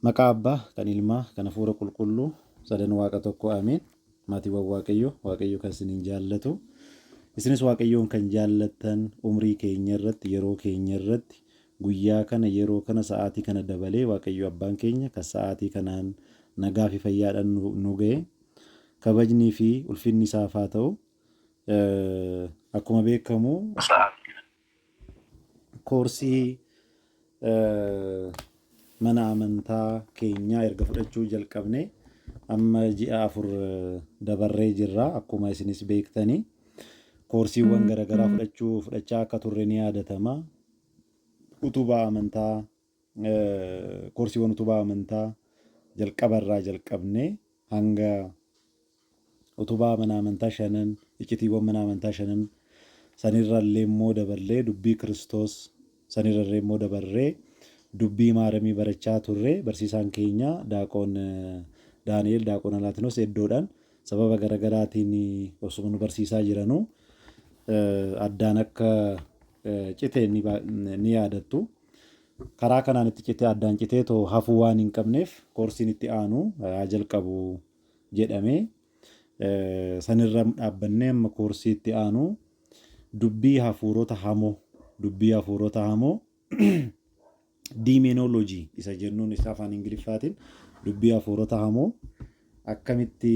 Maqaa Abbaa, kan Ilmaa, kan Hafuura Qulqulluu, sadan Waaqa tokkoo Ameen. Maatiiwwan Waaqayyoo, Waaqayyo kan isiniin jaallatu, isinis Waaqayyoon kan jaallattan, umrii keenya irratti, yeroo keenya irratti, guyyaa kana, yeroo kana, sa'aatii kana dabalee Waaqayyo Abbaan keenya kan sa'aatii kanaan nagaa fi fayyaadhaan nu, nu ga'e. Kabajnii fi ulfinni isaaf haa ta'u. Eh, akkuma beekamu, koorsii eh, mana amantaa keenyaa erga fudhachuu jalqabne amma ji'a afur eh, dabarree jirra akkuma isinis beektanii koorsiiwwan garaagaraa fudhachuu fudhachaa akka turre ni yaadatama utubaa amantaa Koorsiiwwan utubaa amantaa jalqaba irraa jalqabnee hanga utubaa mana amantaa shanan, iccitiiwwan mana amantaa shanan sanirra illee immoo dabarree dubbii Kiristoos sanirra illee immoo dabarree dubbii maaramii barachaa turre barsiisaan keenya daaqoon Daani'eel daaqoon Alaatinos eddoodhaan sababa garagaraatiin osuma nu barsiisaa jiranuu addaan akka cite ni yaadatta. Karaa kanaan itti citee addaan citee too hafuu waan hin qabneef koorsiin itti aanu haa jalqabu jedhame. Sanirra dhaabbannee amma koorsii itti aanu dubbii hafuurota hamoo dubbii hafuurota hamoo diimeenoloojii isa jennuun isa afaan ingiliffaatiin dubbii hafuurota hamoo akkamitti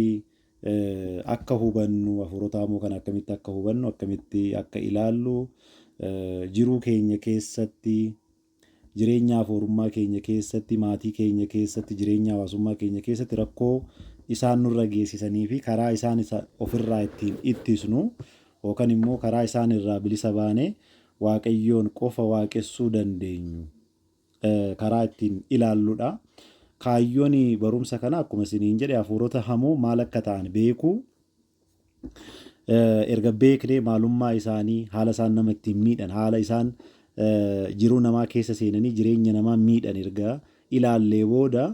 akka hubannu, hafuurotaa immoo kana akkamitti akka hubannu, akkamitti akka ilaallu, jiruu keenya keessatti, jireenya hafuurummaa keenya keessatti, maatii keenya keessatti, jireenya hawaasummaa keenya keessatti rakkoo isaan nurra geessisanii fi karaa isaan isa ofirraa ittiin ittisnu yookaan immoo karaa isaan irraa bilisa baane waaqayyoon qofa waaqessuu dandeenyu. karaa ittiin ilaalludha. Kaayyoon barumsa kana akkuma isiniin jedhe hafuurota hamoo maal akka ta'an beekuu erga beeknee maalummaa isaanii haala isaan nama ittiin miidhan haala isaan jiruu namaa keessa seenanii jireenya namaa miidhan erga ilaallee booda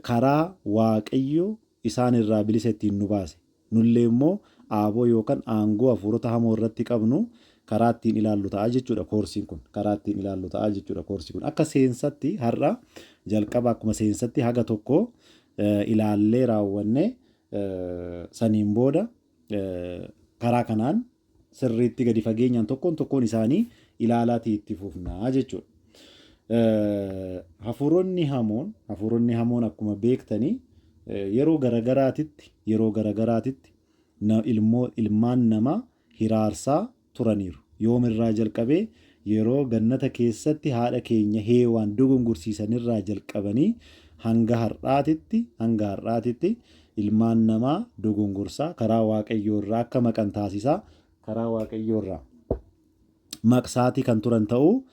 karaa waaqayyo isaan irraa bilisa ittiin nu baase. Nullee immoo aaboo yookan aangoo hafuurota hamoo irratti qabnu karaa ittiin ilaallu ta'a jechuudha koorsiin kun. Karaa ittiin ilaallu ta'a jechuudha koorsi kun. Akka seensatti har'a jalqaba akkuma seensatti haga tokko ilaallee raawwanne saniin booda Karaa kanaan sirriitti gadi fageenyaan tokkoon tokkoon isaanii ilaalaatii itti fufnaa jechuudha. Hafuuronni hamoon hafuuronni hamoon akkuma beektanii yeroo garagaraatitti yeroo garagaraatitti ilmoo ilmaan namaa hiraarsaa turaniiru. Yoom irraa jalqabee? Yeroo Gannata keessatti haadha keenya Heewaan dogongorsiisan irraa jalqabanii hanga har'aatitti, hanga har'aatitti, ilmaan namaa dogongorsaa, karaa Waaqayyoo irraa akka maqan taasisaa, karaa Waaqayyoo irraa maqsaatii kan turan ta'uu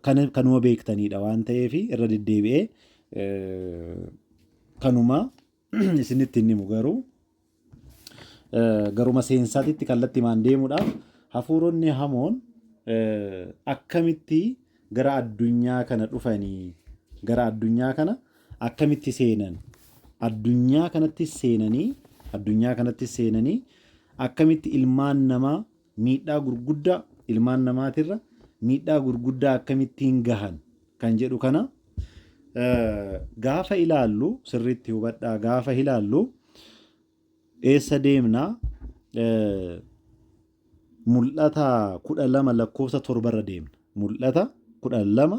kan, kanuma beektaniidha waan ta'eef irra deddeebi'ee kanuma isinitti hin himu garuu eh, garuma seensaatitti kallattimaan deemuudhaaf hafuuronni hamoon eh, akkamitti gara addunyaa kana dhufanii gara addunyaa kana akkamitti seenan addunyaa kanatti seenanii addunyaa kanatti seenanii akkamitti ilmaan namaa Miidhaa gurguddaa ilmaan namaatirra miidhaa gurguddaa akkamittiin gahan kan jedhu kana gaafa ilaallu sirriitti hubadhaa gaafa ilaallu eessa deemna mul'ata kudha lama lakkoofsa torbarra deemna mul'ata kudha lama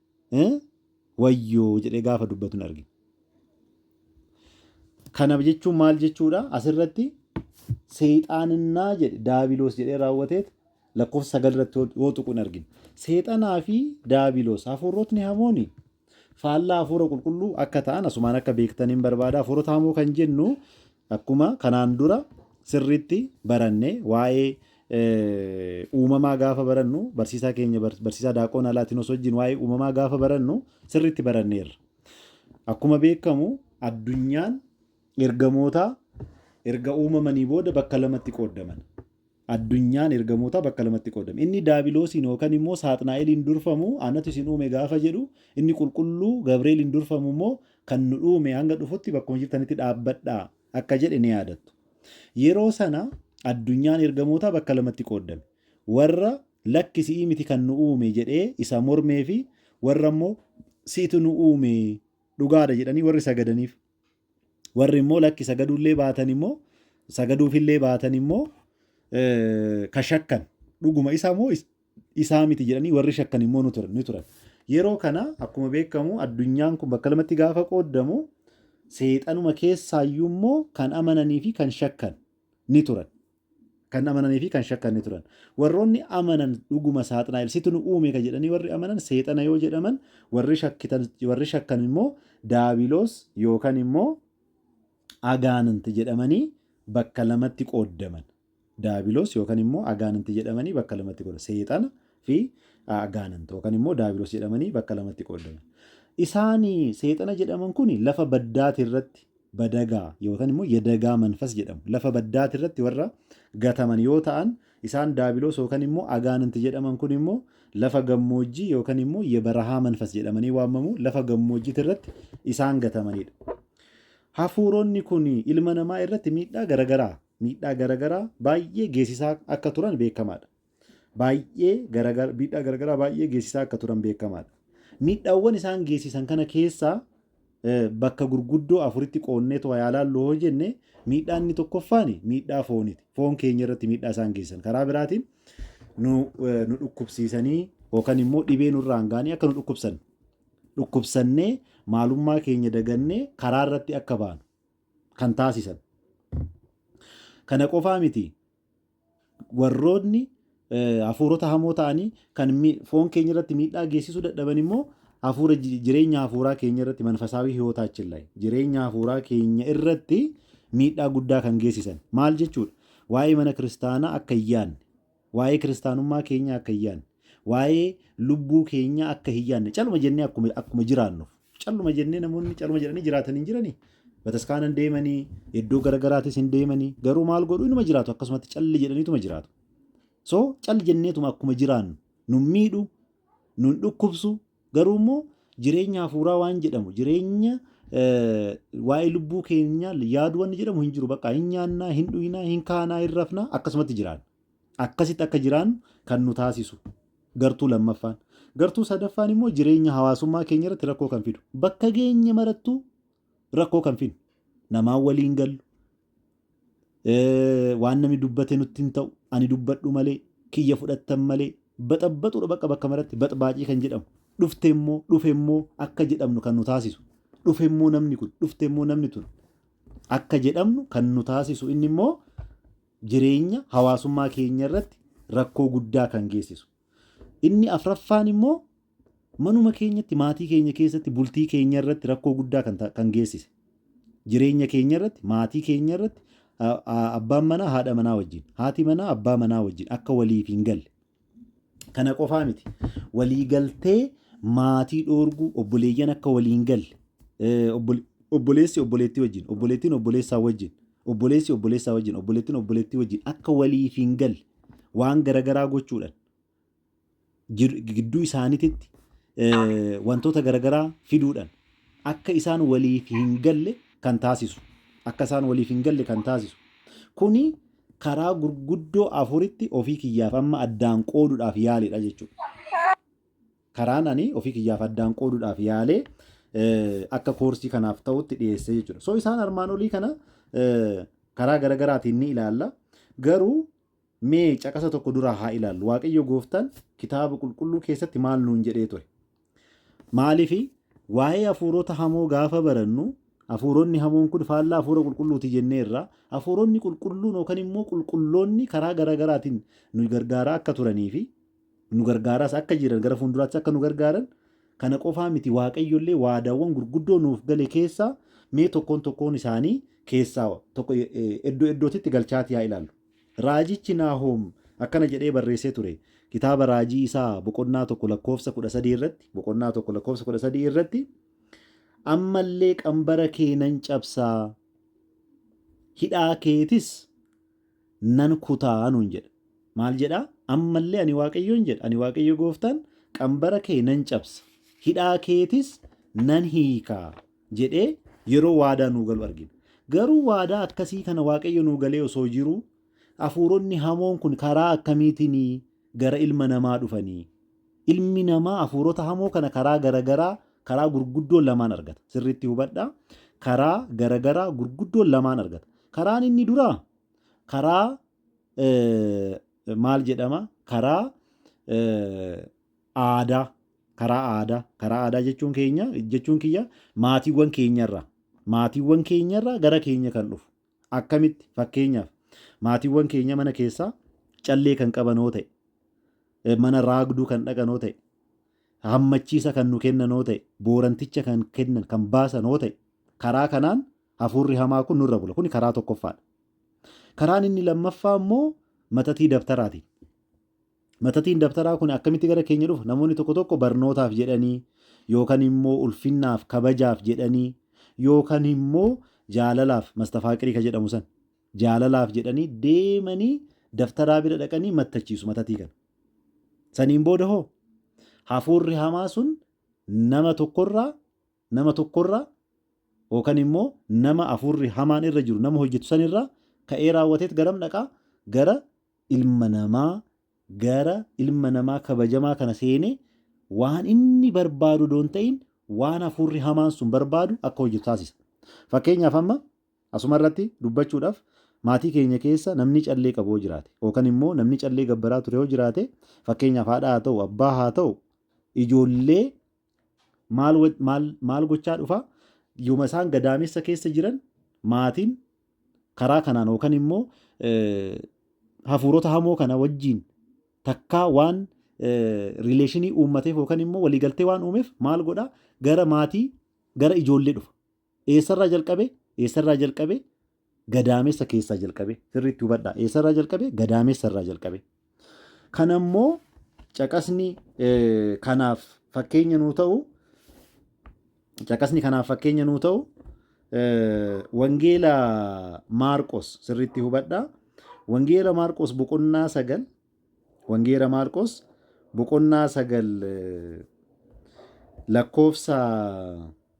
eh, wayyoo jedhee gaafa dubbatu hin argine. Kana jechuun maal jechuudha? Asirratti seexaaninnaa jedhe daabiloos jedhee raawwateet lakkoofsa sagal irratti yoo- yoo tuqu hin argine. Seexanaa fi daabiloos hafuurotni hamooni faallaa hafuura qulqulluu akka ta'an asumaan akka beektaniin barbaada. Hafuurota hamoo kan jennu Akkuma kanaan dura sirriitti baranne waa'ee uumamaa gaafa barannu barsiisaa keenya barsiisaa Daaqoon Alaatinos wajjin waa'ee uumamaa gaafa barannu sirriitti baranneerra. Akkuma beekamu addunyaan ergamootaa erga uumamanii booda bakka lamatti qooddaman. Addunyaan ergamootaa bakka lamatti qoodame. Inni Daabiloosiin yookan immoo Saaxnaa'eliin durfamu anatu isin uume gaafa jedhu, inni Qulqulluu Gabreeliin durfamu immoo kan nu dhuume hanga dhufutti bakkuma jirtanitti dhaabbadhaa akka jedhe ni yaadattu. Yeroo sana addunyaan ergamootaa bakka lamatti qooddame. Warra lakki si'ii miti kan nu uume jedhee isa mormee fi warra immoo si'itu nu uume dhugaadha jedhanii warri sagadaniif. Warri immoo lakki sagaduullee baatan immoo sagaduufillee baatan immoo ka shakkan dhuguma isaa moo isaa miti jedhanii warri shakkan immoo ni turan. Yeroo kana akkuma beekamu addunyaan kun bakka lamatti gaafa qooddamu seexanuma keessaayyuu immoo kan amananii fi kan shakkan ni turan. Kan amananii fi kan shakkan ni turan. Warroonni amanan dhuguma Saaxnaa'el situ nu uume ka jedhanii warri amanan seexana yoo jedhaman, warri shakkitan, warri shakkan immoo Daabiloos yookan immoo Agaanint jedhamanii bakka lamatti qooddaman. Daabiloos yookan immoo Agaanint jedhamanii bakka lamatti qooddaman. Seexana fi Agaanint yookan immoo Daabiloos jedhamanii bakka lamatti qooddaman. Isaani seexana jedhaman kuni lafa baddaati irratti badagaa yookaan immoo yadagaa manfas jedhamu. Lafa baddaati irratti warra gataman yoo ta'an isaan daabiloos yookaan immoo agaananti jedhaman kun immoo lafa gammoojjii yookaan immoo yebarahaa manfas jedhamanii waamamu lafa gammoojjiiti irratti isaan gatamanidha. Hafuuronni kun ilma namaa irratti miidhaa garagaraa miidhaa garagaraa baay'ee geessisaa akka turan beekamaadha. baay'ee garagar- miidhaa garagaraa baay'ee geessisaa akka turan beekamaadha. Miidhaawwan isaan geessisan kana keessaa eh, bakka gurguddoo afuritti qoonnee to'a yaa laallu hoo jenne miidhaa inni tokkoffaan miidhaa fooniti. Foon keenya irratti miidhaa isaan geessisan. Karaa biraatiin nu, eh, nu dhukkubsiisanii yookaan immoo dhibee nurraan ga'anii akka nu dhukkubsan dhukkubsannee maalummaa keenya dagannee karaa irratti akka baanu kan taasisan. Kana qofaa miti Warroonni hafuurota hamoo ta'anii kan foon keenya irratti miidhaa geessisuu dadhaban immoo hafuura jireenya hafuuraa keenya irratti manfasaawii hiwootaachin laay jireenya hafuuraa keenya irratti miidhaa guddaa kan geessisan maal jechuudha waa'ee mana kiristaanaa akka hin yaanne waa'ee kiristaanummaa keenya akka hin yaanne waa'ee lubbuu keenya akka hin yaanne caluma jennee akkuma jiraannuuf Calluma jennee namoonni caluma jedhanii jiraatan hin jiranii? Bataskaana hin deemanii, iddoo garaagaraatis hin deemanii, garuu maal godhu inuma jiraatu akkasumatti calli jedhaniituma jiraatu. So cal jenneetuma akkuma jiraannu nun miidhu, nun dhukkubsu, garuu immoo jireenya hafuuraa waan jedhamu jireenya eh, waa'ee lubbuu keenyaa yaadu wanni jedhamu hin jiru. Bakka hin nyaannaa, hin dhuynaa, hin kaanaa, hin rafnaa akkasumatti jiraanna. Akkasitti akka jiraannu kan nu taasisu gartuu lammaffaan. Gartuu sadaffaan immoo jireenya hawaasummaa keenya irratti rakkoo kan fidu. Bakka geenye marattuu rakkoo kan fidnu. Namaan waliin gallu. Eh, waan namni dubbate nutti hin ta'u. Ani dubbadhu malee, kiyya fudhattan malee. Baxabbaxuudha bakka bakka maratti baxbaacii kan jedhamu. Dhufte immoo, dhufe immoo akka jedhamnu kan nu taasisu. Dhufe immoo namni kun, dhufte immoo namni tun akka jedhamnu kan nu taasisu inni immoo jireenya hawaasummaa keenya irratti rakkoo guddaa kan geessisu. Inni afraffaan immoo manuma keenyatti maatii keenya keessatti bultii keenya irratti rakkoo guddaa kan, ta- kan geessise. Jireenya keenya irratti maatii keenya irratti a- a- abbaan manaa haadha manaa wajjin haati manaa abbaa manaa wajjin akka waliif hin galle Kana qofaa miti. Waliigaltee maatii dhoorguu obboleeyyan akka waliin galle obboleessi obboleettii wajjin obboleettiin obboleessaa wajjin obboleessi obboleessaa wajjin obboleettiin obboleettii wajjin akka waliif hin galle waan garagaraa gochuudhaan gidduu isaaniititti wantoota garagaraa fiduudhaan akka isaan waliif hin galle kan taasisu akka isaan waliif hin galle kan taasisu kuni karaa gurguddoo afuritti ofii kiyyaaf amma addaan qoodudhaaf yaaleedha jechuudha. Karaan ani ofii kiyyaaf addaan qoodudhaaf yaalee akka koorsii kanaaf ta'utti dhiyeessee jechuudha. So isaan armaan olii kana karaa garagaraatiin ni ilaalla. Garuu mee caqasa tokko duraa haa ilaallu. Waaqayyo gooftaan kitaaba qulqulluu keessatti maal nuun jedhee ture? Maaliif? Waa'ee hafuurota hamoo gaafa barannu, hafuuronni hamoon kun faallaa hafuura qulqulluuti jenneerra. Hafuuronni qulqulluun yookan immoo qulqulloonni karaa gara garaatiin nu gargaaraa akka turanii fi nu gargaaraas akka jiran gara fuulduraattis akka nu gargaaran kana qofaa miti Waaqayyo illee waadaawwan gurguddoo nuuf gale keessaa mee tokkoon tokkoon isaanii keessaa tokko iddoo iddootitti galchaatii haa ilaallu. Raajichi Naahoom akkana jedhee barreessee ture, kitaaba raajii isaa boqonnaa 1 lakkoofsa 13 irratti, boqonnaa 1 lakkoofsa 13 irratti, Amma illee qambara kee nan cabsa, hidhaa keetis nan kuta nuun jedha. Maal jedha? Amma illee ani Waaqayyoon jedha, ani Waaqayyo gooftaan qambara kee nan cabsa, hidhaa keetis nan hiika. jedhee yeroo waadaa nuu galu argina. Garuu waadaa akkasii kana Waaqayyo nuu galee osoo jiruu hafuuronni hamoon kun karaa akkamiitiin gara ilma namaa dhufanii? Ilmi namaa hafuurota hamoo kana karaa garagaraa karaa gurguddoo lamaan argata. Sirriitti hubadhaa. Karaa garagaraa gurguddoo lamaan argata. Karaan inni duraa karaa eh, maal jedhama? Karaa eh, aadaa karaa aadaa karaa aadaa jechuun keenya jechuun kiyya maatiiwwan keenyarraa maatiiwwan keenyarraa gara keenya kan dhufu akkamitti fakkeenyaaf maatiiwwan keenya mana keessaa callee kan qaban yoo ta'e eh, mana raagduu kan dhaqan yoo ta'e hammachiisa kan nu kennan yoo ta'e booranticha kan kennan kan baasan yoo ta'e karaa kanaan hafuurri hamaa kun nurra bula kun karaa tokkoffaadha. Karaan inni lammaffaa immoo matatii dabtaraatiin Matatiin dabtaraa kun akkamitti gara keenya dhufa? Namoonni tokko tokko barnootaaf jedhanii yookan immoo ulfinnaaf, kabajaaf jedhanii yookan immoo jaalalaaf, mastafaaqirii ka jedhamu san jaalalaaf jedhanii deemanii dabtaraa bira dhaqanii mattachiisu matatii kana. Saniin booda hoo hafuurri hamaa sun nama tokkorraa nama tokko irraa yookan immoo nama hafuurri hamaan irra jiru nama hojjetu san irraa ka'ee raawwateet garam dhaqa? Gara ilma namaa gara ilma namaa kabajamaa kana seenee waan inni barbaadu odoo hin ta'in waan hafuurri hamaan sun barbaadu akka hojjetu taasisa. Fakkeenyaaf amma asuma irratti dubbachuudhaaf maatii keenya keessa namni callee qabu yoo jiraate yookan immoo namni callee gabbaraa ture yoo jiraate fakkeenyaaf haadha haa ta'u abbaa haa ta'u ijoollee Maal, maal, maal gochaa dhufa? Yoma isaan gadaamessa keessa jiran maatiin karaa kanaan yookaan immoo hafuurota hamoo kana wajjiin takkaa waan riileeshinii uummateef yookaan immoo waliigaltee waan uumeef maal godhaa gara maatii gara ijoollee dhufa. Eessarraa jalqabee eessarraa jalqabee Gadaamessa keessaa jalqabee sirriitti hubadhaa eessarraa jalqabee gadaamessarraa jalqabee kanammoo caqasni kanaaf fakkeenya nuu ta'u caqasni kanaaf fakkeenya nuu ta'u wangeela maarqos sirriitti hubadhaa wangeela maarqos boqonnaa sagal wangeela maarqos boqonnaa sagal lakkoofsa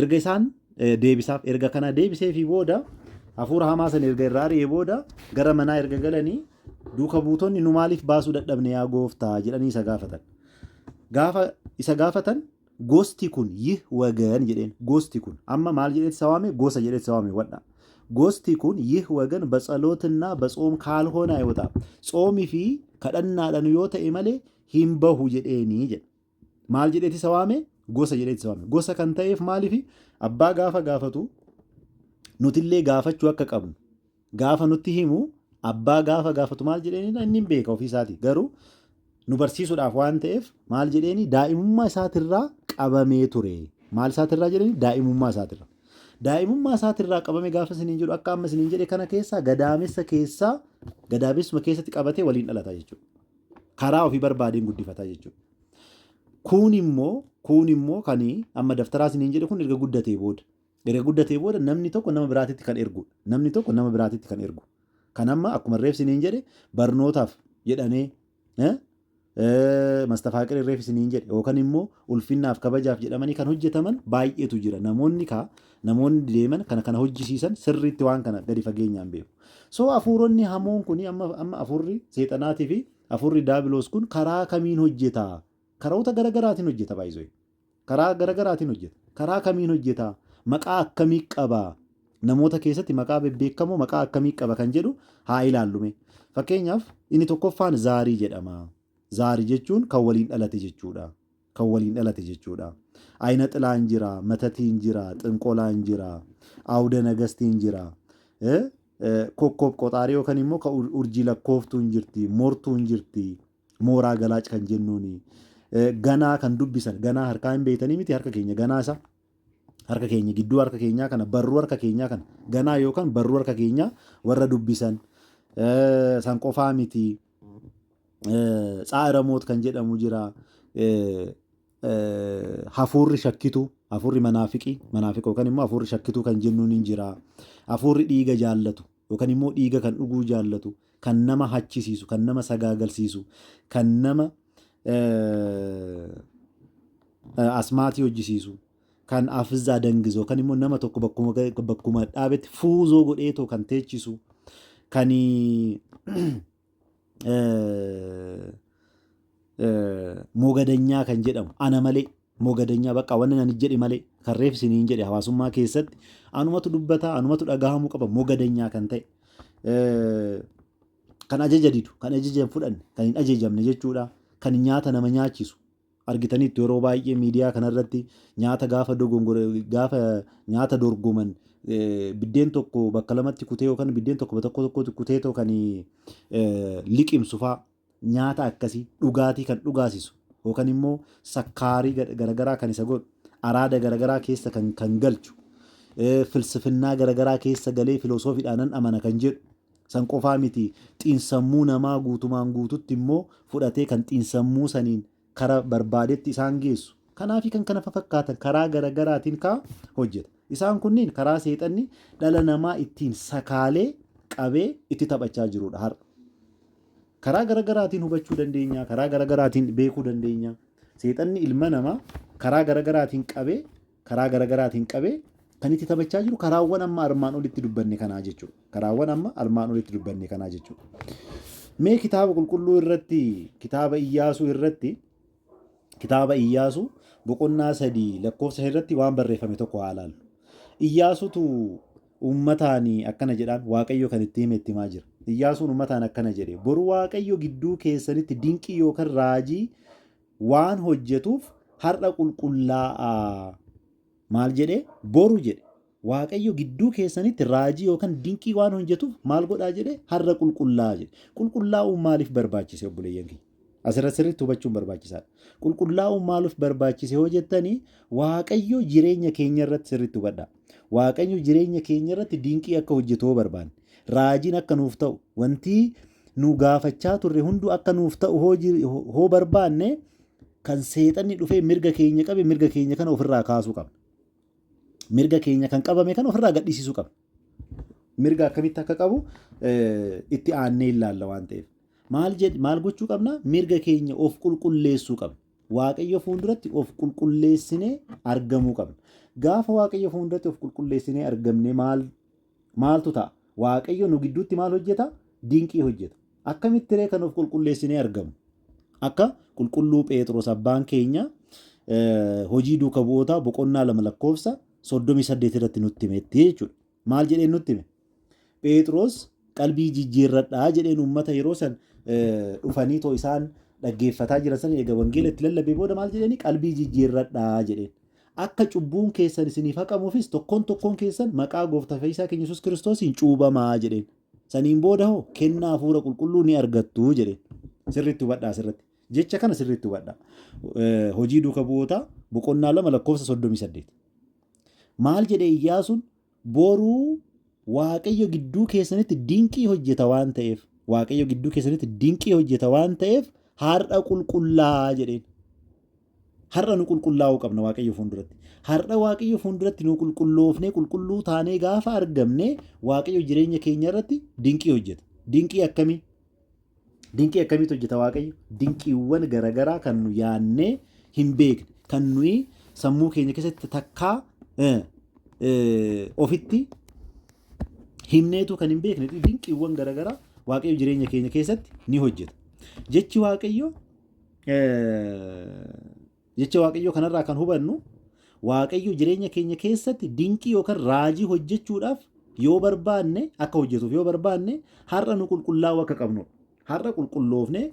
Erga isaan deebisaaf erga kana deebiseefii booda hafuura hamaa sana erga irraa ari'ee booda gara manaa erga galanii duuka buutonni nu maaliif baasuu dadhabne yaa gooftaa jedhanii isa gaafatan. Gaafa isa gaafatan gosti kun yih wagan jedheen gosti kun amma maal jedhetti isa waame gosa jedhetti isa waame wadha. Gosti kun yih wagan batsalootinna batsoom kaalhoonaa yoo ta'a tsoomii fi kadhannaadhaan yoo ta'e malee hin bahu jedheenii jedha. Maal jedheeti isa waame? Gosa jedheeti isa waame. Gosa kan ta'eef maaliifi? Abbaa gaafa gaafatu nutillee gaafachuu akka qabnu gaafa nutti himu abbaa gaafa gaafatu maal jedheenidha inni hin beeka ofiisaati garuu nu barsiisuudhaaf waan ta'eef maal jedheeni daa'imummaa isaatirraa qabamee ture maal isaatirraa jedhani daa'imummaa isaatirraa daa'imummaa isaatirraa qabame gaafa isiniin jedhu akka amma isiniin jedhe kana keessaa gadaamessa keessaa gadaamessuma keessatti qabatee waliin dhalata jechuudha. karaa ofii barbaadeen guddifataa jechuudha. Kuun immoo kuun immoo kan amma daftaraa isiniin jedhe kun erga guddatee booda erga guddatee booda namni tokko nama biraatitti kan ergu namni tokko nama biraatitti kan ergu kan amma akkuma reef isiniin jedhe barnootaaf jedhanee eh, eh, mastafaaqirri reef isiniin jedhe yookaan immoo ulfinnaaf kabajaaf jedhamanii kan hojjetaman baay'eetu jira namoonni kaa Namoonni deeman kana kana hojjisiisan sirriitti waan kana gadi fageenyaan beeku. So hafuuronni hamoon kun amma amma hafuurri seexanaatii fi hafuurri daabiloos kun karaa kamiin hojjeta? Karoota gara garaatiin hojjeta baay'isoo. Karaa gara garaatiin hojjeta. Karaa kamiin hojjeta? Maqaa akkamii qaba? Namoota keessatti maqaa bebbeekamoo maqaa akkamii qaba kan jedhu haa ilaallume. Fakkeenyaaf inni tokkoffaan zaarii jedhama. Zaarii jechuun kan waliin dhalate jechuudha. kan waliin dhalate jechuudha. Ayina xilaan jira, matatiin jira, xinqolaan jira, awuda nagastiin jira, kokkoob qoxaarii yookaan immoo kan urjii lakkooftuun jirti, mortuun jirti, mooraa galaac kan jennuuni. Ganaa kan dubbisan, ganaa harkaa hin beektanii miti harka keenya ganaa isa. Harka keenya gidduu harka keenyaa kana barruu harka keenyaa kana ganaa yookaan barruu harka keenyaa warra dubbisan san qofaa miti. Tsaa'iramoot kan jedhamu jira. Hafuurri shakkituu, hafuurri manaafiqii, manaafiqa yookaan immoo hafuurri shakkituu kan jennuun ni jira. Hafuurri dhiiga jaallatu yookaan immoo dhiiga kan dhuguu jaallatu, kan nama hachisiisu, kan nama sagaagalsiisu, kan nama asmaatii hojjisiisu. kan afizaa dangizu yookaan immoo nama tokko bakkuma ga'e- bakkuma dhaabetti fuuzoo godheetoo kan teechisu kan mogadanyaa kan jedhamu ana malee mogadanyaa bakka wanni ani jedhe malee kan reef isiniin jedhe hawaasummaa keessatti anumatu dubbataa anumatu dhagahamuu qaba mogadanyaa kan ta'e eh, kan ajaja didu kan ajaja hin fudhanne kan hin ajajamne jechuudha kan nyaata nama nyaachisu argitaniittu yeroo baay'ee miidiyaa kanarratti nyaata gaafa dogongore gaafa nyaata dorgoman biddeen tokko bakka lamatti kutee yookaan biddeen tokko tokko tokkotti kutee too kan liqimsu faa nyaata akkasii dhugaatii kan dhugaasisu yookaan immoo sakkaarii garagaraa kan isa godhu araada garagaraa keessa kan kan galchu filsifinnaa garagaraa keessa galee filoosofiidhaanan amana kan jedhu San qofaa miti, xiinsammuu namaa guutumaan guututti immoo fudhatee kan xiinsammuu saniin kara barbaadetti isaan geessu. Kanaafi kan kana fafakkaatan karaa garagaraatiin kaa hojjeta. Isaan kunniin karaa seexanni dhala namaa ittiin sakaalee qabee itti taphachaa jiruudha har'a. Karaa garagaraatiin hubachuu dandeenya, karaa garagaraatiin beekuu dandeenya. Seexanni ilma namaa karaa garagaraatiin qabee karaa garagaraatiin qabee kan itti taphachaa jiru karaawwan amma armaan olitti dubbanne kanaa jechuudha. Karaawwan amma armaan olitti dubbanne kanaa jechuudha. Mee kitaaba qulqulluu irratti kitaaba iyyaasuu irratti kitaaba iyyaasuu boqonnaa sadii lakkoofsa irratti waan barreeffame tokko haa ilaallu. Iyyaasuutu uummataan akkana jedhaan waaqayyo kan itti hime itti himaa jira. Iyyaasuun uummataan akkana jedhe boru waaqayyo gidduu keessanitti dinqii yookaan raajii waan hojjetuuf har'a qulqullaa'aa. Maal jedhe? Boru jedhe. Waaqayyo gidduu keessanitti raajii yookaan dinqii waan hojjetuuf maal godhaa jedhe? Har'a qulqullaa'aa jedhe. Qulqullaa'uun maaliif barbaachise obboleeyyan kiyya? Asirra sirriitti hubachuun barbaachisaadha. Qulqullaa'uun maaliif barbaachise yoo jettanii Waaqayyo jireenya keenya irratti sirriitti hubadhaa. Waaqayyo jireenya keenya irratti dinqii akka hojjetu yoo barbaanne, raajiin akka nuuf ta'u, wanti nu gaafachaa turre hunduu akka nuuf ta'u hoo jir- hoo barbaanne kan seexanni dhufee mirga keenya qabe mirga keenya kana ofirraa kaasuu qabna. Mirga keenya kan qabame kana ofirraa gadhiisisuu qabna. Mirga akkamitti akka qabu eh, itti aannee ilaalla waan ta'eef. Maal jedh- maal gochuu qabna? Mirga keenya of qulqulleessuu qabna. Waaqayyo fuulduratti of qulqulleessinee argamuu qabna. Gaafa Waaqayyo fuulduratti of qulqulleessinee argamne maal Maaltu ta'a? Waaqayyo nu gidduutti maal hojjeta? Dinqii hojjeta. Akkamitti ree kan of qulqulleessinee argamu? Akka qulqulluu Pheexroos abbaan keenya hojii duuka bu'ootaa boqonnaa lama lakkoofsa soddomii saddeet irratti nutti himetti jechuudha. Maal jedheen nutti hime? Pheexroos qalbii jijjiirradhaa jedheen uummata yeroo san dhufanii too isaan dhaggeeffataa jiran san eega wangeela itti lallabee booda maal jedheeni qalbii jijjiirradhaa jedheen. Akka cubbuun keessan isiniif haqamuufis tokkoon tokkoon keessan maqaa Gooftaa Fayyisaa keenya Yesuus Kiristoosiin cuubamaa jedheen. Saniin booda hoo kennaa hafuura qulqulluu ni argattu jedheen. Sirriitti hubadhaa asirratti. Jecha kana sirriitti hubadhaa. Eh, Hojii duuka bu'ootaa boqonnaa lama lakkoofsa soddomii saddeet. Maal jedhe Iyyaasuun Boru Waaqayyo gidduu keessanitti dinqii hojjeta waan ta'eef, Waaqayyo gidduu keessanitti dinqii hojjeta waan ta'eef har'a qulqullaa'aa jedheen. Har'a nu qulqullaa'uu qabna Waaqayyo fuulduratti. Har'a Waaqayyo fuulduratti nu qulqulloofnee qulqulluu taanee gaafa argamne Waaqayyo jireenya keenya irratti dinqii hojjeta. Dinqii akkamii? Dinqii akkamiitu hojjeta Waaqayyo? Dinqiiwwan garagaraa kan nu yaannee hin beekne, kan nuyi sammuu keenya keessatti takkaa ofitti himneetu kan hin beekne dinqiiwwan garagaraa Waaqayyo jireenya keenya keessatti ni hojjeta. Jechi Waaqayyo Jecha Waaqayyoo kanarraa kan hubannu Waaqayyo jireenya keenya keessatti dinqii yookaan raajii hojjechuudhaaf yoo barbaanne akka hojjetuuf yoo barbaanne har'a nu qulqullaa'uu akka qabnudha. Har'a qulqulloofnee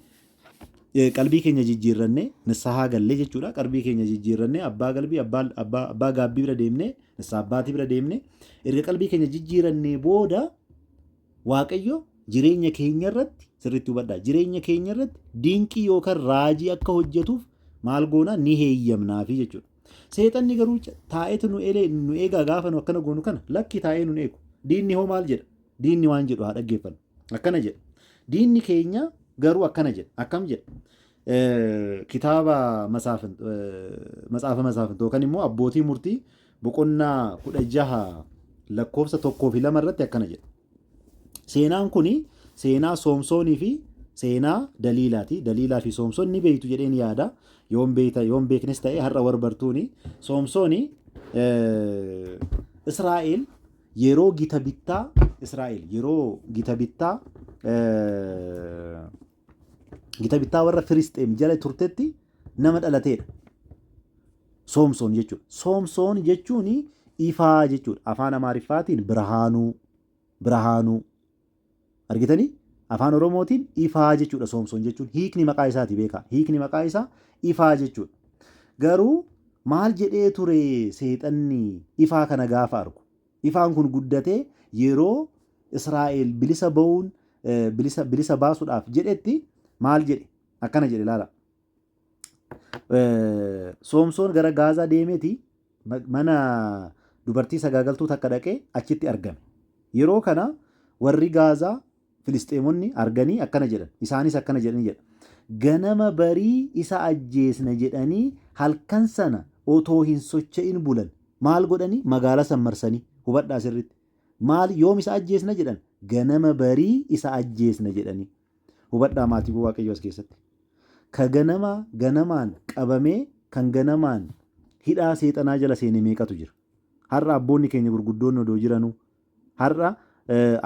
eh, qalbii keenya jijjiirrannee nissahaa gallee jechuudha. Qalbii keenya jijjiirrannee abbaa galbii abbaa abbaa abbaa gaabbii bira deemnee nissaa abbaatii bira deemnee erga qalbii keenya jijjiirannee booda Waaqayyo jireenya keenya irratti sirriitti hubadhaa jireenya keenya irratti dinqii yookaan raajii akka hojjetuuf maal goonaa ni heeyyamnaafi jechuudha. Seexanni garuu taa'eetu nu elee nu eegaa gaafa nu akkana goonu kana lakki taa'ee nu eegu. Diinni hoo maal jedha? Diinni waan jedhu haa dhaggeeffannu. Akkana jedha. Diinni keenya garuu akkana jedha. Akkam jedha? Kitaaba matsaafa masaafintoo yookaan immoo abbootii murtii boqonnaa 16 lakkoofsa 1 fi 2 irratti akkana jedha. Seenaan kun seenaa Soomsoonii fi seenaa Daliilaati. Daliilaa fi Soomsoon ni beektu jedheen yaada. Yoon beekta yoon beeknes ta'e har'a war bartuuni. Soomsooni Israa'el yeroo gita bittaa Israa'el yeroo gita bittaa Gita bittaa warra Firisxeem jala turtetti nama dhalateedha. Soomsoon jechuudha. Soomsoon jechuun ifaa jechuudha. Afaan Amaariffaatiin birahaanuu, birahaanuu. Argitanii? Afaan Oromootiin ifaa jechuudha soomsoon jechuun. Hiikni maqaa isaati beekaa. Hiikni maqaa isaa ifaa jechuudha. Garuu maal jedhee ture seexanni ifaa kana gaafa argu? Ifaan kun guddatee yeroo Israa'eel bilisa ba'uun bilisa bilisa baasuudhaaf jedhetti maal jedhe? Akkana jedhe ilaala. Soomsoon gara Gaazaa deemeti mana dubartii sagaagaltuu takka dhaqee achitti argame. Yeroo kana warri Gaazaa Filisxeemonni arganii akkana jedhan, isaanis akkana jedhanii jedha, Ganama barii isa ajjeesna jedhanii halkan sana otoo hin socha'in bulan. Maal godhanii? Magaalaa san marsanii. Hubadhaa sirriitti. Maal yoom isa ajjeesna jedhan? Ganama barii isa ajjeesna jedhanii. Hubadhaa maatiiwwan Waaqayyoo as keessatti. Ka ganama ganamaan qabamee kan ganamaan hidhaa seexanaa jala seene meeqatu jira? Har'a abboonni keenya gurguddoonni odoo jiranuu, Har'a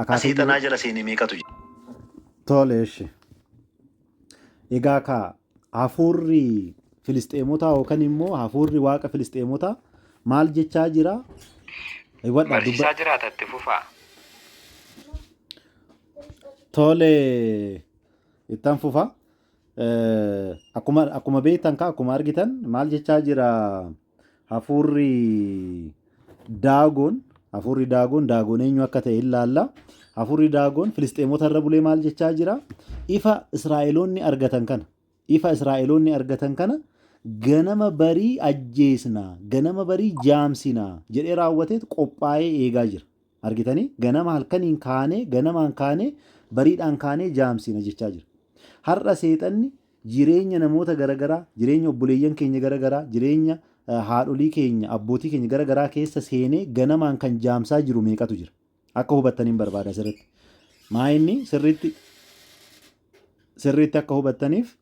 akaakuu seexanaa jala seene meeqatu jira. Tole eshi. Egaa kaa hafuurri Filisxeemotaa yookaan immoo hafuurri waaqa Filisxeemotaa maal jechaa jira? Hubadhaa Barsiisaa jiraata itti fufaa. Tole ittan fufa. Akkuma beektan kaa akkuma argitan maal jechaa jira? Hafuurri Daagon, hafuurri Daagon, Daagon eenyu akka ta'e ilaalla. Hafuurri Daagon Filisxeemota irra bulee maal jechaa jira? Ifa Israa'eloonni argatan kana, ifa Israa'eloonni argatan kana ganama barii ajjeesna, ganama barii jaamsina jedhee raawwateet qophaa'ee eegaa jira. Argitanii? Ganama halkaniin kaanee, ganamaan kaanee, bariidhaan kaanee jaamsina jechaa jira. Har'a seexanni jireenya namoota gara garaa, jireenya obboleeyyan keenya gara garaa, jireenya haadholii keenya, abbootii keenya gara garaa keessa seenee ganamaan kan jaamsaa jiru meeqatu jira? Akka hubattaniin barbaada asirratti. Maa inni sirriitti sirriitti akka hubattaniif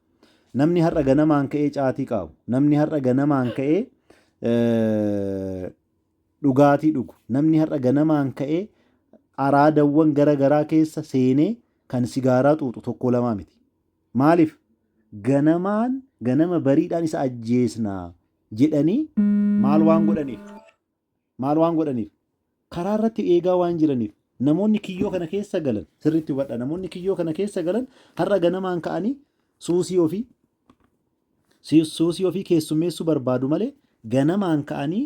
namni har'a ganamaan ka'ee caatii qaawu, namni har'a ganamaan ka'ee eh, dhugaatii dhugu, namni har'a ganamaan ka'ee araadawwan gara garaa keessa seenee kan sigaaraa xuuxu tokko lamaa miti. Maaliif? Ganamaan, ganama bariidhaan isa ajjeesna jedhanii maal waan godhaniif? Maal waan godhaniif? Karaa irratti eegaa waan jiraniif. Namoonni kiyyoo kana keessa galan, sirriitti hubadha, namoonni kiyyoo kana keessa galan har'a ganamaan ka'anii suusii ofii Suusii ofii keessummeessuu barbaadu malee ganamaan ka'anii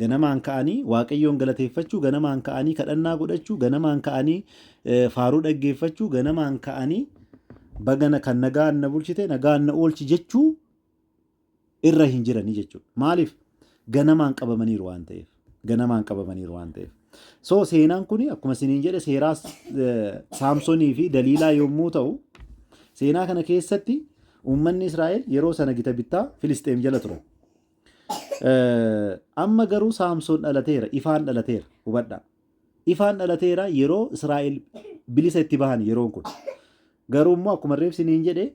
ganamaan ka'anii Waaqayyoon galateeffachuu, ganamaan ka'anii kadhannaa godhachuu, ganamaan ka'anii faaruu dhaggeeffachuu, ganamaan ka'anii bagana kan nagaan na bulchite nagaan na oolchi jechuu irra hin jiranii jechuudha. Maaliif? Ganamaan qabamaniiru waan ta'eef. ganamaan qabamaniiru waan ta'eef. So seenaan kun akkuma isiniin jedhe seeraa Saamsonii fi Daliilaa yommuu ta'u seenaa kana keessatti uummanni Israa'el yeroo sana gita bittaa Filisxeem jala ture. Amma garuu Saamson dhalateera, ifaan dhalateera, hubadhaa. Ifaan dhalateera yeroo Israa'el bilisa itti bahan yeroon kun. Garuu immoo akkuma reebsiniin jedhe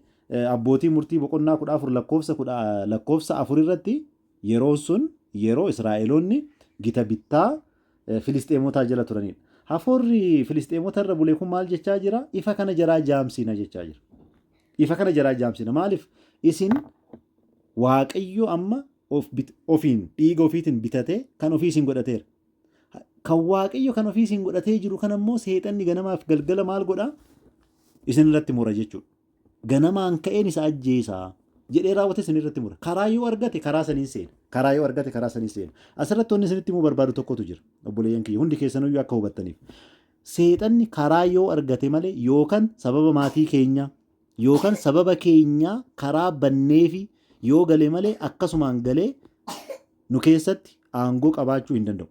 abbootii murtii boqonnaa kudha afur lakkoofsa kudha lakkoofsa afur irratti Yeroon sun yeroo Israa'eloonni gita bittaa Filisxeemotaa jala turanidha. Hafuurri Filisxeemota irra bule kun maal jechaa jira? Ifa kana jaraa jaamsina jechaa jira. Ifa kana jaraa jaamsina. Maaliif? Isin Waaqayyo amma of bit- ofiin dhiiga ofiitiin bitatee kan ofii isin godhateera. Kan Waaqayyo kan ofii isin godhatee jiru kana immoo seexanni ganamaaf galgala maal godha? Isin irratti mura jechuudha. ganamaan ka'een isa ajjeesaa jedhee raawwate isin irratti mura. Karaa yoo argate karaa saniin seena. Karaa yoo argate karaa saniin seena. Asirratti wanni isinitti himuu barbaadu tokkotu jira. Obboleeyyan kiyya hundi keessanuyyuu akka hubattaniif. Seexanni karaa yoo argate malee yookaan sababa maatii keenyaa yookaan sababa keenyaa karaa banneefi yoo gale malee akkasumaan galee nu keessatti aangoo qabaachuu hin danda'u.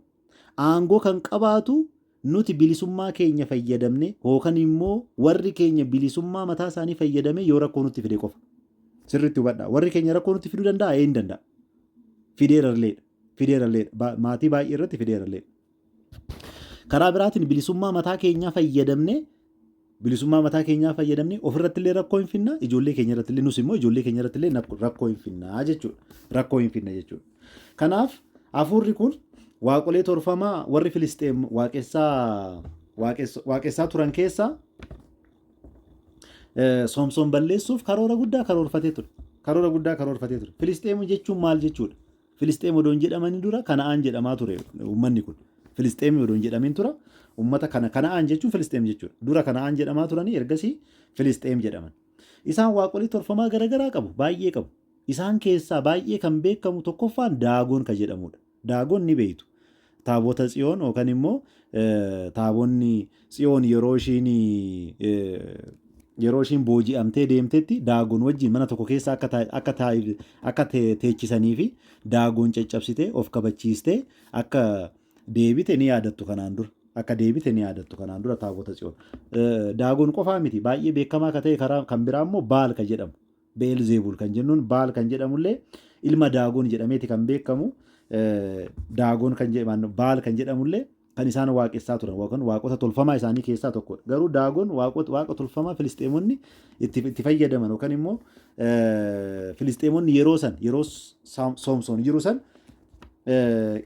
Aangoo kan qabaatu Nuti bilisummaa keenya fayyadamnee hookan immoo warri keenya bilisummaa mataa isaanii fayyadamee yoo rakkoo nutti fide qofa. Sirriitti hubadhaa. Warri keenya rakkoo nutti fiduu danda'a? Ee hin danda'a. Fideeralleedha. Fideeralleedha. Ba- Maatii baay'ee irratti fideeralleedha. Karaa biraatiin bilisummaa mataa keenyaa fayyadamnee Bilisummaa mataa keenyaa fayyadamnee ofirrattillee rakkoo hin finna, ijoollee keenya irrattillee nus immoo ijoollee keenya irrattillee nak- rakkoo hin finna jechuudha. Rakkoo hin finna jechuudha. Kanaaf hafuurri kun waaqolee torfamaa warri Filisxeem waaqessaa waaqessa- waaqessaa turan keessaa eh, Soomsoon balleessuuf karoora guddaa karoorfatee ture. Karoora guddaa karoorfatee ture. Filisxeem jechuun maal jechuudha? Filisxeem odoo hin jedhamanii dura Kana'aan jedhamaa ture uummanni kun. Filisxeemii odoo hin jedhamin tura uummata kana Kana'aan jechuun Filisxeem jechuudha. Dura Kana'aan jedhamaa turanii ergasii Filisxeem jedhaman. Isaan waaqolii tolfamaa garaagaraa qabu, baay'ee qabu. Isaan keessaa baay'ee kan beekamu tokkoffaan Daagon ka jedhamudha. Daagon ni beeytu. Taabota Tsiyoon yookan immoo taabonni Tsiyoon yeroo ishiin yeroo ishiin booji'amtee deemtetti daagon wajjin mana tokko keessa akka taa- akka taa- akka te- teechisanii fi daagon caccabsitee of kabachiistee akka deebite ni yaadattu kanaan dura. Akka deebite ni yaadattu kanaan dura taabota Tsiyoon. Eh, Daagon qofaa miti baay'ee beekamaa akka ta'e karaa kan biraa immoo Baal ka jedhamu. Be'elzeebul kan jennuun Baal kan jedhamullee ilma Daagon jedhameeti kan beekamu. Daagon kan jedhamu Baal kan jedhamullee kan isaan waaqessaa turan yookaan waaqota tolfamaa isaanii keessaa tokkodha. Garuu Daagon waaqa tolfamaa Filisxeemonni itti fayyadaman yookaan immoo Filisxeemonni yeroo san yeroo Soomsoon jiru san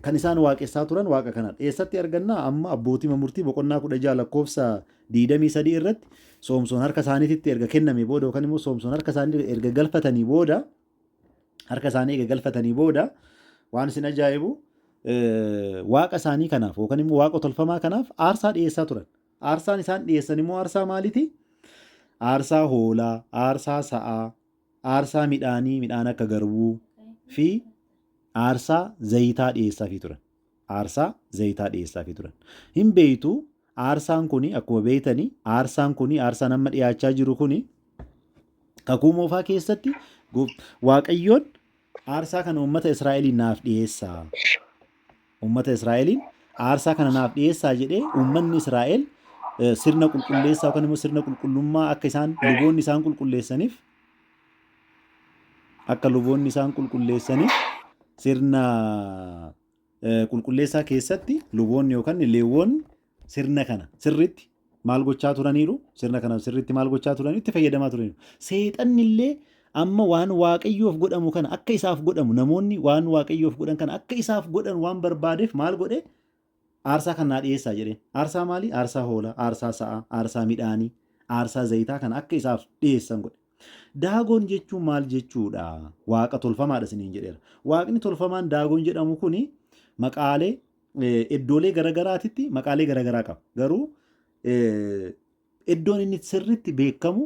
kan isaan waaqessaa turan waaqa kanadha. Eessatti argannaa amma abbootii murtii boqonnaa kudha jaha lakkoofsa 23 irratti Soomsoon harka isaaniititti erga kennamee booda yookaan immoo Soomsoon harka isaanii erga galfatanii booda harka isaanii erga galfatanii booda waan isin ajaa'ibu waaqa isaanii kanaaf yookaan immoo waaqa tolfamaa kanaaf aarsaa dhiyeessaa turan. Aarsaan isaan dhiyeessan immoo aarsaa maaliiti? Aarsaa hoolaa, aarsaa sa'aa, aarsaa midhaanii midhaan akka garbuu fi aarsaa zayitaa dhiyeessaafii turan. aarsaa zayitaa dhiyeessaafii turan. Hin beeytu aarsaan kuni akkuma beeytani aarsaan kuni aarsaan amma dhiyaachaa jiru kuni kakuu moofaa keessatti goof- waaqayyoon aarsaa kana uummata Israa'eliin naaf dhiyeessaa. Uummata Israa'eliin aarsaa kana naaf dhiyeessaa jedhee uummanni Israa'el eh, sirna qulqulleessaa yookaan immoo sirna qulqullummaa akka isaan luboonni isaan qulqulleessaniif akka luboonni isaan qulqulleessaniif sirna eh, qulqulleessaa keessatti luboonni yookaan leewwoonni sirna kana sirriitti maal gochaa turaniiru sirna kana sirriitti maal gochaa turaniiru itti fayyadamaa turaniiru seexanni illee amma waan waaqayyoof godhamu kana akka isaaf godhamu namoonni waan waaqayyoof godhan kana akka isaaf godhan waan barbaadeef maal godhe Aarsaa kan naa dhi'eessaa jedheen. Aarsaa maalii? Aarsaa hoolaa, aarsaa sa'aa, aarsaa midhaanii, aarsaa zayitaa kana akka isaaf dhi'eessan godhe. Daagon jechuun maal jechuu dha? Waaqa tolfamaa dha isiniin jedheera. Waaqni tolfamaan Daagon jedhamu kun maqaalee iddoolee garagaraatitti maqaalee garagaraa qaba. Garuu Iddoon inni itti sirriitti beekamu,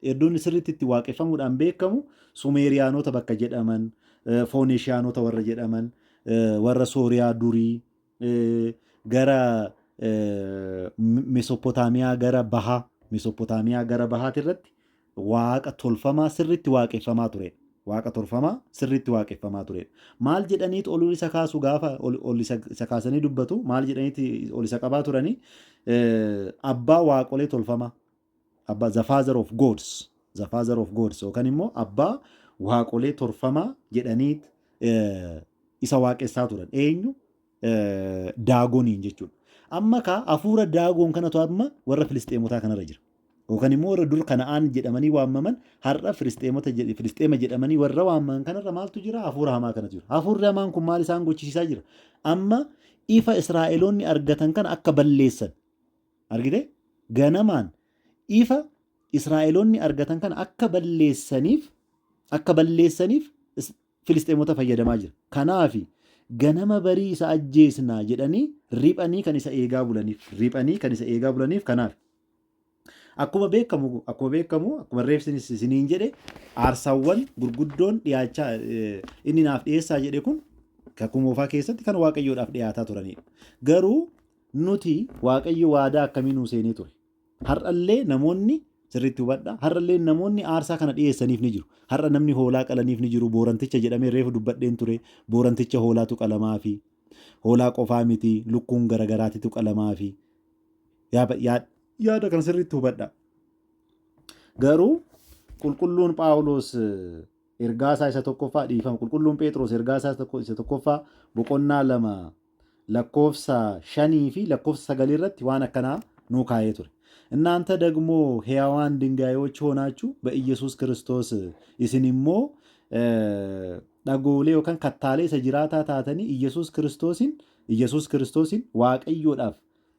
iddoon inni sirriitti itti waaqeffamuudhaan beekamu Sumeeriyaanota bakka jedhaman, eh, Fooneshiyaanota warra jedhaman, eh, warra Sooriyaa durii, eh, gara eh, M- Mesoppotaamiyaa gara bahaa, Mesoppotaamiyaa gara bahaati irratti waaqa tolfamaa sirriitti waaqeffamaa tureedha. Waaqa tolfamaa sirriitti waaqeffamaa tureedha. Maal jedhaniit ol isa kaasu gaafa ol, ol isa, isa kaasanii dubbatu maal jedhaniiti ol isa qabaa turanii Eh, abbaa waaqolee tolfamaa abbaa the father of gods the father of gods yookaan immoo abbaa waaqolee tolfamaa jedhaniit eh, isa waaqessaa turan eenyu daagoniin jechuudha. Amma kaa hafuura daagoon kanatu amma warra filisxeemotaa kanarra jira. Yookaan immoo warra dur kana'aan jedhamanii waamaman har'a filisxeema jedhamanii warra waamaman kanarra maaltu jira? Hafuura hamaa kanatu jira. Hafuurri hamaan kun maal isaan gochisiisaa jira? Amma ifa Israa'eloonni argatan kana akka balleessan. Argite? Ganamaan ifa Israa'eloonni argatan kana akka balleessaniif akka balleessaniif Filisxeemota fayyadamaa jira. Kanaafi, ganama barii isa ajjeesna jedhanii riphanii kan isa eegaa bulaniif. Riphanii kan isa eegaa bulaniif kanaafi. Akkuma beekamu akkuma beekamu akkuma reefsinis isiniin jedhe aarsaawwan gurguddoon dhiyaachaa inni naaf dhiyeessaa jedhe kun kakuu moofaa keessatti kan waaqayyoodhaaf dhiyaataa turanidha. Garuu nuti waaqayyo waadaa akkamii nuu seenee ture? Har'a illee namoonni, sirriitti hubadhaa, har'a illee namoonni aarsaa kana dhiyeessaniif ni jiru. Har'a namni hoolaa qalaniif ni jiru, booranticha jedhamee reefu dubbadheen ture, booranticha hoolaatu qalamaafi. Hoolaa qofaa miti, lukkuun gara garaatitu qalamaafi. Yaa, yaa, yaada kana sirriitti hubadhaa. Garuu qulqulluun Phaawulos ergaa isaa isa tokkoffaa dhiifama, qulqulluun Phexros ergaa isaa isa tokkoffaa boqonnaa lama lakkoofsa 5 fi lakkoofsa 9 irratti waan akkanaa nuu kaa'ee ture. Innaanta dagmoo heyawaan dingaayochi hoonaachu ba Iyyesuus Kiristoos isin immoo dhagoolee yookaan kattaalee isa jiraataa taatanii Iyyesuus Kiristoosin Iyyesuus Kiristoosin Waaqayyoodhaaf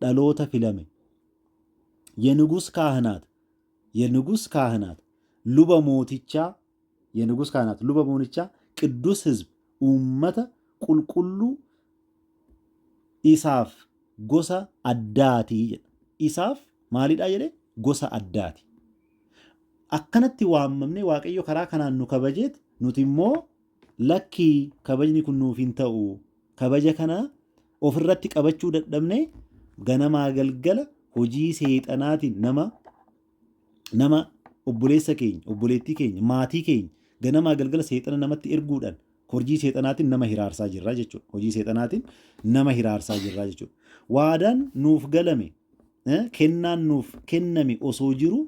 dhaloota filame Yenugus Kaahinaat Yenugus Kaahinaat luba mootichaa Yenugus Kaahinaat luba moonichaa Qiddus Hizb uummata qulqulluu isaaf gosa addaati jedha. Isaaf maalidhaa jedhe gosa addaati. Akkanatti waammamnee Waaqayyo karaa kanaan nu kabajeet nuti immoo Lakki kabajni kun nuuf hin ta'u. Kabaja kana of irratti qabachuu dadhabnee ganamaa galgala hojii seexanaatiin nama nama obboleessa keenya, obboleettii keenya, maatii keenya ganamaa galgala seexana namatti erguudhaan hojii seexanaatiin nama hiraarsaa jirra jechuudha. Hojii seexanaatiin nama hiraarsaa jirra jechuudha. Waadaan nuuf galame, eh, kennaan nuuf kenname osoo jiru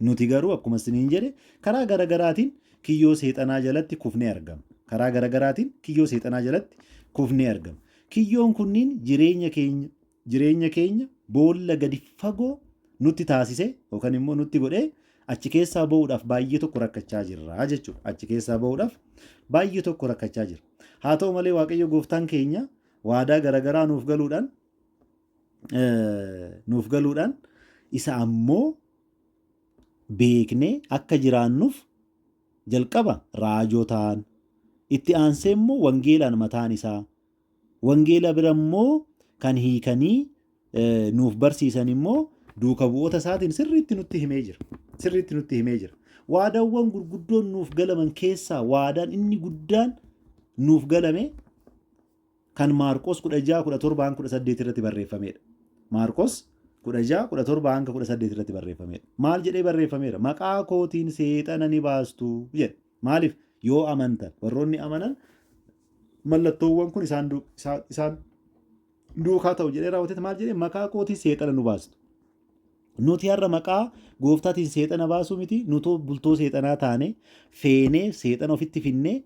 Nuti garuu akkuma isiniin jedhe karaa gara garaatiin kiyyoo seexanaa jalatti kufnee argama. Karaa gara garaatiin kiyyoo seexanaa jalatti kufnee argama. Kiyyoon kunniin jireenya keenya jireenya keenya boolla gadi fagoo nutti taasise yookaan immoo nutti godhee achi keessaa ba'uudhaaf baay'ee tokko rakkachaa jirra jechuudha. Achi keessaa ba'uudhaaf baay'ee tokko rakkachaa jira. Haa ta'u malee Waaqayyo gooftaan keenya waadaa garaagaraa nuuf galuudhaan nuuf galuudhaan isa ammoo beeknee akka jiraannuuf jalqaba raajotaan itti aansee immoo wangeelaan mataan isaa wangeela bira immoo kan hiikanii nuuf barsiisan immoo duuka bu'oota isaatiin sirriitti nutti himee jira. Sirriitti nutti himee jira. Waadaawwan gurguddoon nuuf galaman keessaa waadaan inni guddaan nuuf galame kan Maarqos 16, 17-18 irratti barreeffameedha. Maarqos 16, 17-18 irratti barreeffameedha. Maal jedhee barreeffameera? Maqaa kootiin seexana ni baastu jedhe. Maaliif? Yoo amantan. Warroonni amanan mallattoowwan kun isaan, du- isaan, isaan duukaa ta'u jedhee raawwateet maal jedhee maqaa kootiin seexana nu baastu. Nuti har'a maqaa gooftaatiin seexana baasuu miti, nutoo bultoo seexanaa taane, feenee seexana ofitti finnee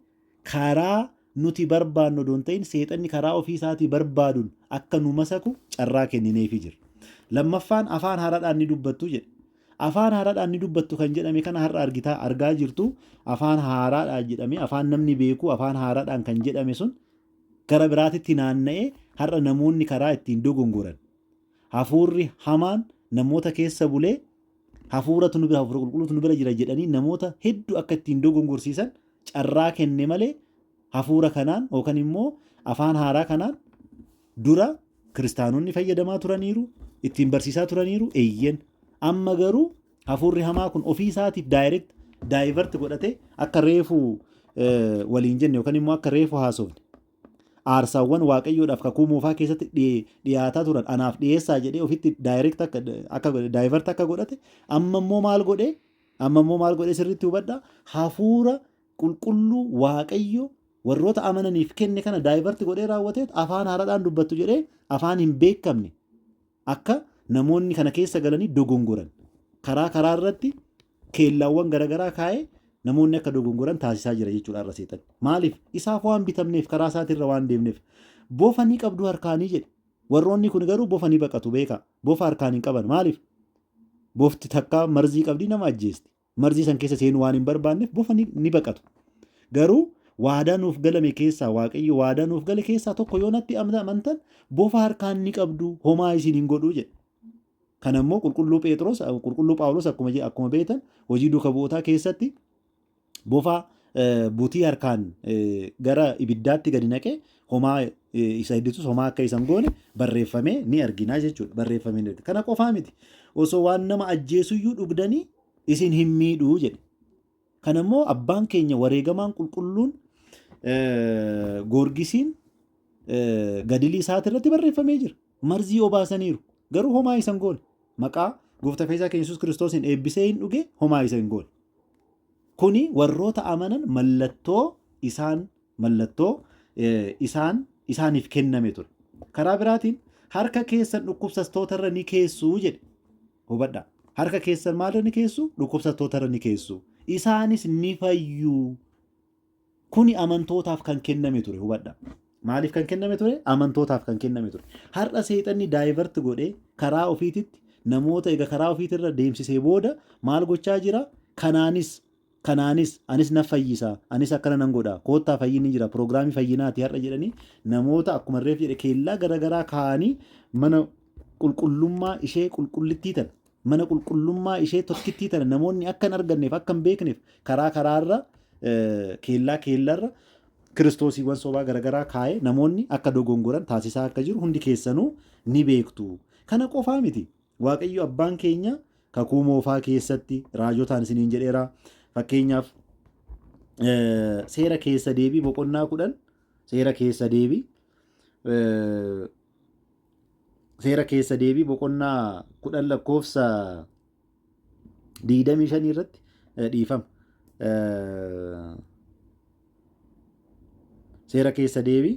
Karaa nuti barbaannu odoo hin ta'in seexanni karaa ofii isaatii barbaadun akka nu masaku carraa kennineefii jirra. Lammaffaan afaan haaraadhaan ni dubbattu jedhe. Afaan haaraadhaan ni dubbattu kan jedhame kana har'a argitaa argaa jirtu afaan haaraadhaan jedhamee afaan namni beeku afaan haaraadhaan kan jedhame sun gara biraatitti naanna'ee har'a namoonni karaa ittiin dogongoran hafuurri hamaan namoota keessa bulee Hafuuratu nu bira, Hafuura Qulqulluutu nu bira jira jedhanii namoota hedduu akka ittiin dogongorsiisan carraa kenne malee hafuura kanaan yookaan immoo afaan haaraa kanaan dura kiristaanonni fayyadamaa turaniiru, ittiin barsiisaa turaniiru, eeyyeen. Amma garuu hafuurri hamaa kun ofii isaatiif daayireekt daayivert godhatee akka reefu waliin jenne yookaan immoo akka reefu haasofne Aarsaawwan Waaqayyoodhaaf kakuu moofaa keessatti dhi- dhiyaataa turan anaaf dhiyeessaa jedhee ofitti direct akka, akka godhe, divert akka godhate amma immoo maal godhe? Amma immoo maal godhe sirriitti hubadhaa? Hafuura qulqulluu Waaqayyo warroota amananiif kenne kana divert godhee raawwateet afaan haaraadhaan dubbattu jedhee afaan hin beekamne Akka namoonni kana keessa galanii dogongoran karaa karaa irratti keellaawwan garagaraa kaa'ee namoonni akka dogongoran taasisaa jira jechuudha har'a seexanni. Maaliif? Isaaf waan bitamneef karaa isaatirra waan deemneef. Bofa ni qabdu harkaanii jedhe. Warroonni kun garuu bofa ni baqatu beekaa. Bofa harkaan hin qaban. Maaliif? Bofti takkaa marzii qabdii nama ajjeesti. Marzii san keessa seenuu waan hin barbaanneef bofa ni, ni baqatu. Garuu waadaa nuuf galame keessaa Waaqayyo waadaa nuuf gale keessaa tokko yoo natti amna- amantan bofa harkaan ni qabdu homaa isin hin godhu jedhe. Kana immoo qulqulluu Pheexroos qulqulluu Phaawulos akkuma je- akkuma beektan hojii duuka bu'ootaa keessatti bofa eh, butii harkaan eh, gara ibiddaatti gadi naqee homaa isa hedditus homaa akka isan goone barreeffamee ni arginaa jechuudha. Barreeffamee ni argina. Kana qofaa miti. Osoo waan nama ajjeesuyyuu dhugdanii isin hin miidhuu jedhe. Kana immoo abbaan keenya wareegamaan qulqulluun eh, goorgisiin eh, gadilii isaati irratti barreeffamee jira. Marzii obaasaniiru. Garuu homaa isan goone. Maqaa gooftaa fayyisaa keenya Yesuus Kiristoosiin eebbisee hin dhuge homaa isa hin goone. Kuni warroota amanan mallattoo isaan mallattoo isaan isaaniif kenname ture. Karaa biraatiin harka keessan dhukkubsastoota irra ni keessu jedhe. Hubadha. Harka keessan maalirra ni keessu? Dhukkubsastoota irra ni keessu. Isaanis ni fayyu. Kuni amantootaaf kan kenname ture. Hubadha. Maaliif kan kenname ture? Amantootaaf kan kenname ture. Har'a seexanni daayivart godhee karaa ofiititti namoota egaa karaa ofiitirra deemsisee booda maal gochaa jira? Kanaanis Kanaanis, anis nan fayyisa, anis akkana nan godha, koottaa fayyinni jira, piroogiraamii fayyinaati har'a jedhanii namoota akkuman reef jedhe keellaa gara garaa kaa'anii mana qulqullummaa ishee qulqullittii tana, mana qulqullummaa ishee tokkittii tana namoonni akka hin arganneef, akka hin beekneef karaa karaarra keellaa keellarra kiristoosiiwwan sobaa gara garaa kaa'ee namoonni akka dogongoran taasisaa akka jiru hundi keessanuu ni beektu. Kana qofaa miti. Waaqayyo abbaan keenya kakuu moofaa keessatti raajotaan isiniin jedheera. Fakkeenyaaf seera keessa deebii boqonnaa kudhan seera keessa deebii seera keessa deebii boqonnaa kudhan lakkoofsa digdamii shanii irratti dhiifama. Seera keessa deebii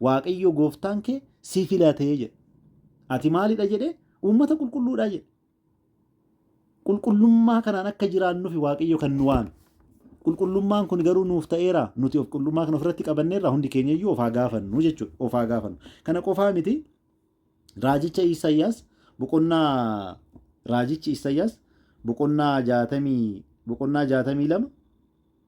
Waaqayyo gooftaan kee si filate jedhe. Ati maalidha jedhee? Uummata qulqulluudha jedhe. Qulqullummaa kanaan akka jiraannufi Waaqayyo kan nu waame. Qulqullummaan kun garuu nuuf ta'eera. Nuti of qulqullummaa kana ofirratti qabanneerra hundi keenya iyyuu of haa gaafannu jechuudha. Of haa gaafannu. Kana qofaa miti raajicha Isaayyaas boqonnaa raajichi Isaayyaas boqonnaa jaatamii boqonnaa jaatamii lama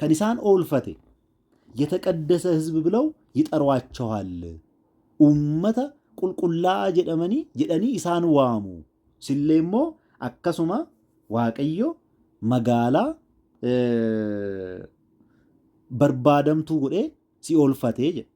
kan isaan oolfate yataqaddasa hizb bilaw yixaruachawaal uummata qulqullaa'aa jedhamanii jedhanii isaan waamu sillee immoo akkasuma waaqayyo magaalaa barbaadamtuu godhee si oolfatee jedhe.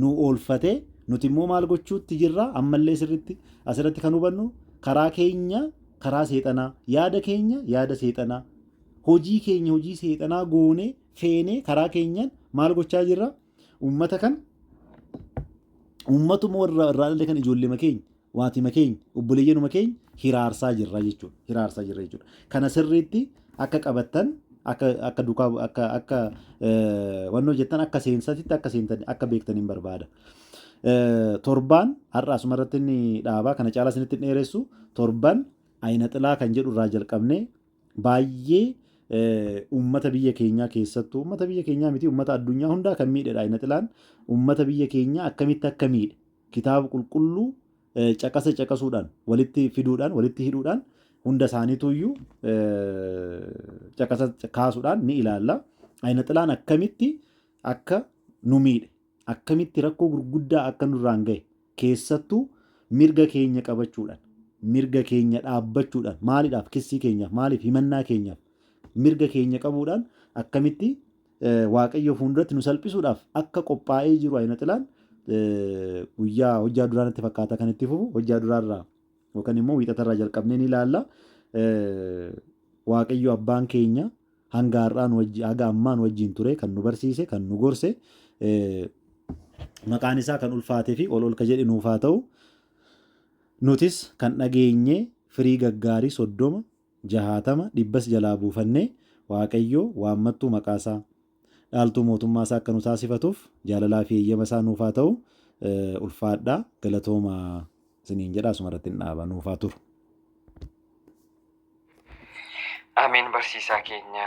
nu oolfate, nuti immoo maal gochuutti jirra? Ammallee sirriitti asirratti kan hubannu karaa keenya karaa seexanaa, yaada keenya yaada seexanaa, hojii keenya hojii seexanaa goonee feenee karaa keenyaan maal gochaa jirra? Uummata kan uummatuma warra irraa dhalle kan ijoolleema keenya Waatima keenya, obboleeyyanuma keenya hiraarsaa jirra jechuudha. Hiraarsaa jirra jechuudha. Kana sirriitti akka qabattan akka akka dukaa akka akka eh, wanni hojjettan akka seensatitti akka seentan akka beektan hin barbaada. Eh, Torbaan har'a asuma irratti inni dhaabaa kana caalaa isinitti hin dheeressu torban ayina xilaa kan jedhu irraa jalqabnee baay'ee eh, uummata biyya keenyaa keessattuu uummata biyya keenyaa miti uummata addunyaa hundaa kan miidhedha ayina xilaan uummata biyya keenyaa akkamitti akka miidhe Kitaaba Qulqulluu caqasa caqasuudhaan, walitti fiduudhaan, walitti hidhuudhaan hunda isaaniitu iyyuu caqasa kaasuudhaan ni ilaalla. Ayina xilaan akkamitti akka nu miidhe, akkamitti rakkoo gurguddaa akka nurraan gahe, keessattuu mirga keenya qabachuudhaan, mirga keenya dhaabbachuudhaan, maalidhaaf kissii keenyaaf, maaliif himannaa keenyaaf mirga keenya qabuudhaan akkamitti Waaqayyoo fuulduratti nu salphisuudhaaf akka qophaa'ee jiru ayina xilaan guyyaa hojjaa duraa natti fakkaata kan itti fufu hojjaa duraarraa yookaan immoo wiixatarraa jalqabnee ni ilaalla. Waaqayyo abbaan keenya hanga har'aa nu wajji haga ammaa nu wajjin ture kan nu barsiise kan nu gorse maqaan isaa kan ulfaatee fi ol ol ka jedhe nuuf haa ta'u. Nutis kan dhageenye firii gaggaarii soddoma jahaatama, dhibbas jalaa buufannee Waaqayyoo waammattuu maqaa isaa, dhaaltuu mootummaa isaa akka nu taasifatuuf jaalalaa fi eeyyama isaa nuuf haa ta'u ulfaadhaa galatooma isiniin jedha asuma irratti hin dhaaba nuuf haa turu. Ameen barsiisaa keenya.